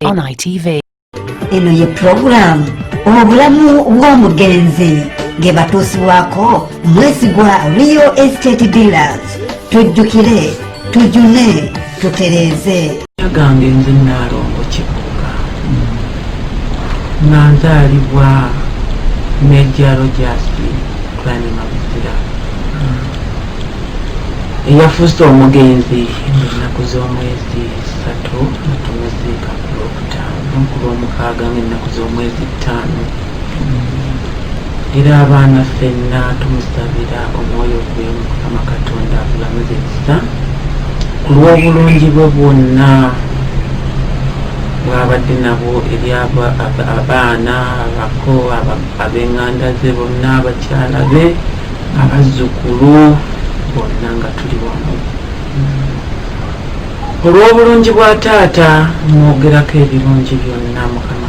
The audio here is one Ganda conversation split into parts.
On ITV. eno ye pulogulaamu obulamu bw'omugenzi nge batuusibwako mwesigwa rio estate dealers tujjukire tujune tutereeze yagange nze naalongo kikuka nga nzaalibwa meja rogasi twanima buzira eyafuuse omugenzi ennaku z'omwezi satu natumuziika ku lwokutaano ku lwomukaaga nga ennaku z'omwezi ttaano era abaana ffenna tumusabira omwoyo gwe mukama katonda abulamuze ekisa ku lw'obulungi bwe bwonna bwabadde nabwo eri abaana abako ab'enganda ze bonna abakyala be abazzukulu bonna nga tuli wamu olw'obulungi bwa taata mwogerako ebirungi byonna mukama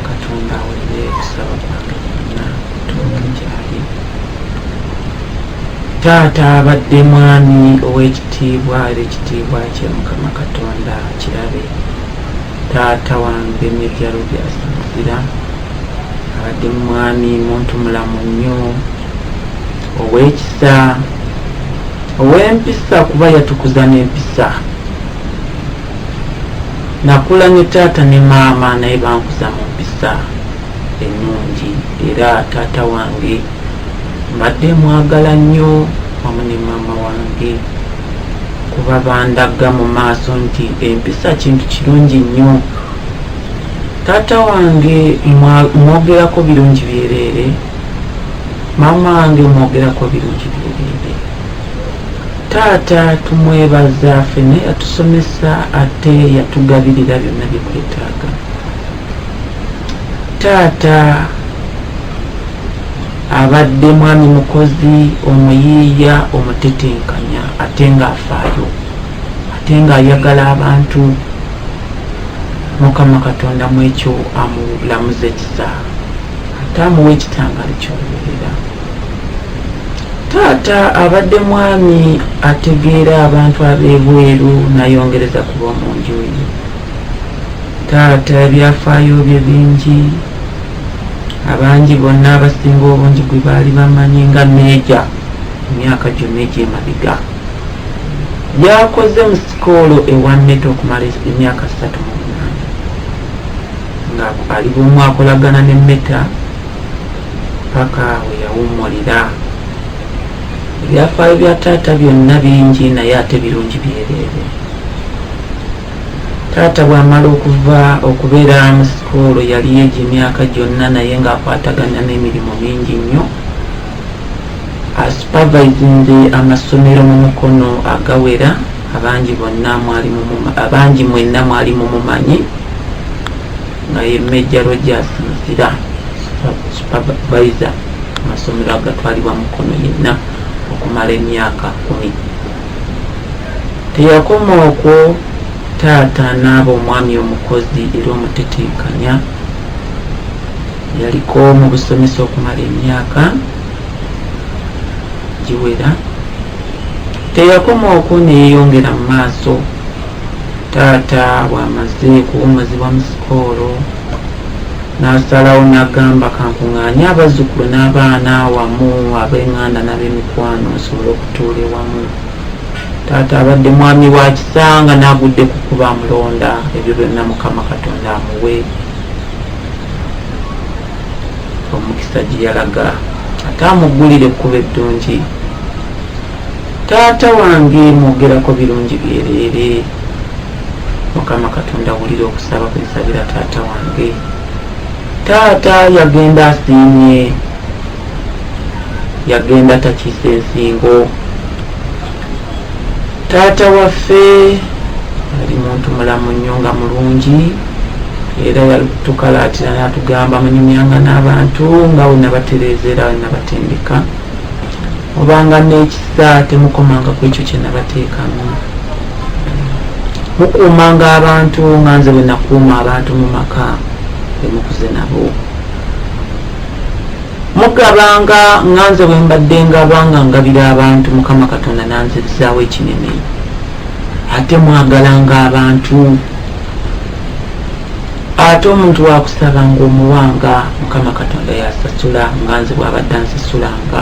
taata abadde mwami ow'ekitiibwa era ekitiibwa kye mukama katonda kirabe taata wange nebyalo byasamatira abadde mwami muntu mulamu nnyo ow'ekisa ow'empisa kuba yatukuza n'empisa Nakula ne taata ne maama naye bankuza mu mpisa ennungi era taata wange mbadde mwagala nnyo wamu ne maama wange kuba bandagga mu maaso nti empisa kintu kirungi nnyo taata wange mwogerako birungi byereere maama wange mwogerako birungi byereere Taata tumwebaza fene yatusomesa ate yatugabirira byonna byetwetaaga. Taata abadde mwami mukozi omuyiiya omutetenkanya ate ng'afaayo ate ng'ayagala abantu mukama katonda mu ekyo amulamuza ekisa ate amuwa ekitangaalo ky'oluberera Taata abadde mwami ategeera abantu ab'ebweru nayongereza ku b'omu nju ye. Taata ebyafaayo bye bingi, abangi bonna abasinga obungi gwe baali bamanyi nga meeja emyaka gyonna egy'emabega. Yakoze mu sikoolo ewa Neto okumala emyaka ssatu mu munaana nga ali bw'omu akolagana ne Meta. paka weyawummulira ebyafaayo bya taata byonna bingi naye ate birungi byereere taata bwamala okuva okubeera mu sikuulu yali egyo emyaka gyonna naye ng'akwatagana n'emirimu mingi nnyo asupervisinze amasomero mu mukono agawera abangi mwenna mwali mumumanyi nga ye major rogers muzira supervisor amasomero agatwalibwa mukono yenna okumala emyaka kumi teyakoma okwo taata n'aba omwami omukozi era omutetenkanya yaliko mu busomesa okumala emyaka giwera teyakoma okwo neyeyongera mu maaso taata bw'amaze kuwumuzibwa mu sikoolo n'asalawo n'agamba kankung'anye abazzukulu n'abaana wamu ab'enganda n'ab'emikwano nsobole okutuula ewamu taata abadde mwami wa kisanga n'agudde ku kuba amulonda ebyo byonna mukama katonda amuwe omukisa gye yalaga ate amuggulire ekkuba eddungi taata wange mwogerako birungi byereere mukama katonda wulira okusaba kwensabira taata wange taata yagenda asiimye yagenda takiisa ensingo taata waffe ali muntu mulamu nnyo nga mulungi era yatukalaatira natugamba munyumyanga n'abantu nga wenabatereeza era wenabatendeka obanga n'ekisa temukomanga ku ekyo kye nabateekamu mukuumanga abantu nga nze bwe nakuuma abantu mu maka be mukuze nabo mugabanga nga nze bwe mbadde ngaba nga ngabira abantu mukama katonda nanzizaawo ekinene ate mwagalanga abantu ate omuntu wakusaba nga omuwanga mukama katonda yasasula nga nze bwabadde ansasulanga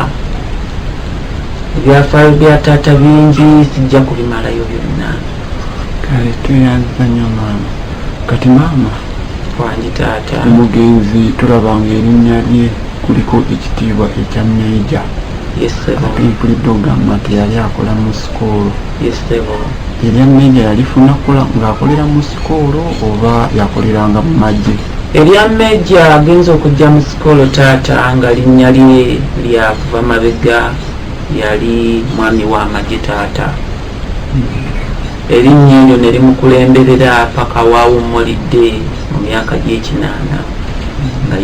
ebyafaayo bya taata bingi sijja kubimalayo byonna kale tweyanziza nyo maama kati maama wangi taata omugenzi tulabanga erinnya lye kuliko ekitiibwa ekya meeja ate mpulidde ogamba nti yali akola mu sikoolo erya meeja yalifuna kola ng'akolera mu sikoolo oba yakoleranga mu magye erya meeja agenza okujja mu sikoolo taata nga linnya lye lyakuva mabega yali mwami wa magye taata erinnya eryo ne limukulemberera paka waawummulidde mu myaka gy'ekinaana nga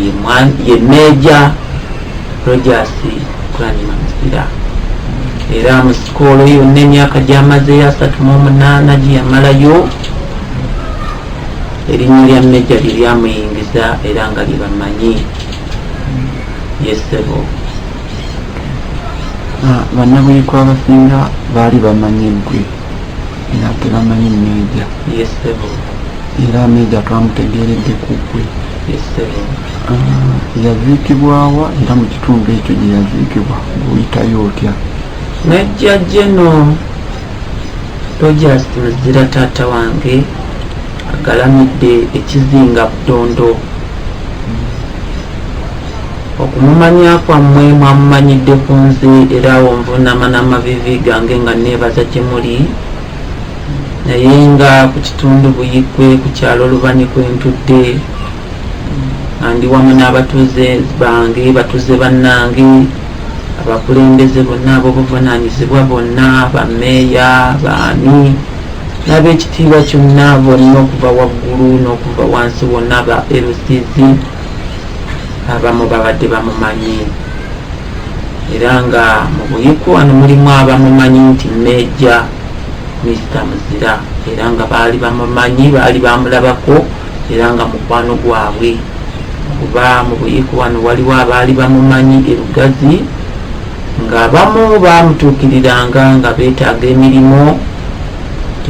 ye meeja Rogers Kulanyima Muzira era mu sikoolo yonna emyaka gyamazeyo asatu mu omunaana gye yamalayo erinnya lya meja lye lyamuyingiza era nga lyebamanyi yesebo ah, bannabuyiko abasinga baali bamanyi gwe era tebamanyi meeja era meeja twamutegeeredde ku gwe ah, yaziikibwawa era mu kitundu ekyo gye yaziikibwa guyitayo otya meeja geno rogers muzira taata wange agalamidde ekizinga butondo Okumumanya kwammwe mwamumanyidde ku nze era awo nvuunama n'amaviivi gange nga nneebaza gye muli naye nga ku kitundu Buikwe ku kyalo Lubanyi kwe ntudde nga ndi wamu n'abatuuze bange batuuze bannange abakulembeze bonna ab'obuvunaanyizibwa bonna bameeya baani n'ab'ekitiibwa kyonna bonna okuva waggulu n'okuva wansi wonna ba LCZ abamu babadde bamumanyi era nga mu buyiku wano mulimu abamumanyi nti meja mister muzira era nga baali bamumanyi baali bamulabako era nga mukwano gwabwe kuba mu buyiku wano waliwo abaali bamumanyi erugazi ng'abamu baamutuukiriranga nga beetaaga emirimu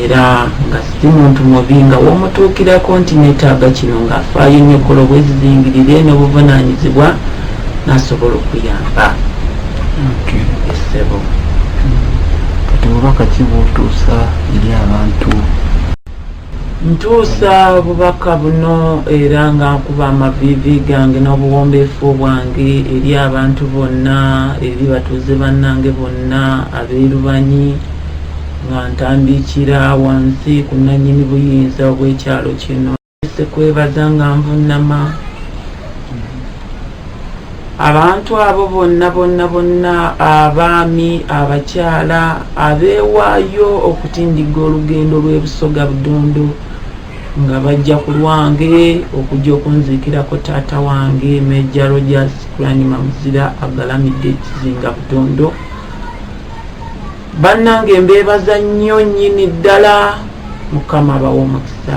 era nga si muntu mubi nga womutuukirako nti netaaga kino ng'afaayo nnyo kola obwezizingirire n'obuvunaanyizibwa nasobola okuyamba esebo kati bubaka ki bwotuusa eri abantu Ntuusa bubaka buno era nga nkuba amaviivi gange n'obuwombeefu bwange eri abantu bonna, eri batuuze bannange bonna abeerubanyi nga ntambiikira wansi ku nnannyini buyinza obw'ekyalo kino. Nneese kwebaza nga nvunnama. Abantu abo bonna bonna bonna abaami, abakyala abeewaayo okutindigga olugendo lw'e Busoga Budondo nga bajja ku lwange okujja okunziikirako taata wange Meja Rogers Kulanyuma Muzira agalamidde ekizinga Budondo. Bannange mbeebaza nnyo nnyini ddala Mukama bawe omukisa.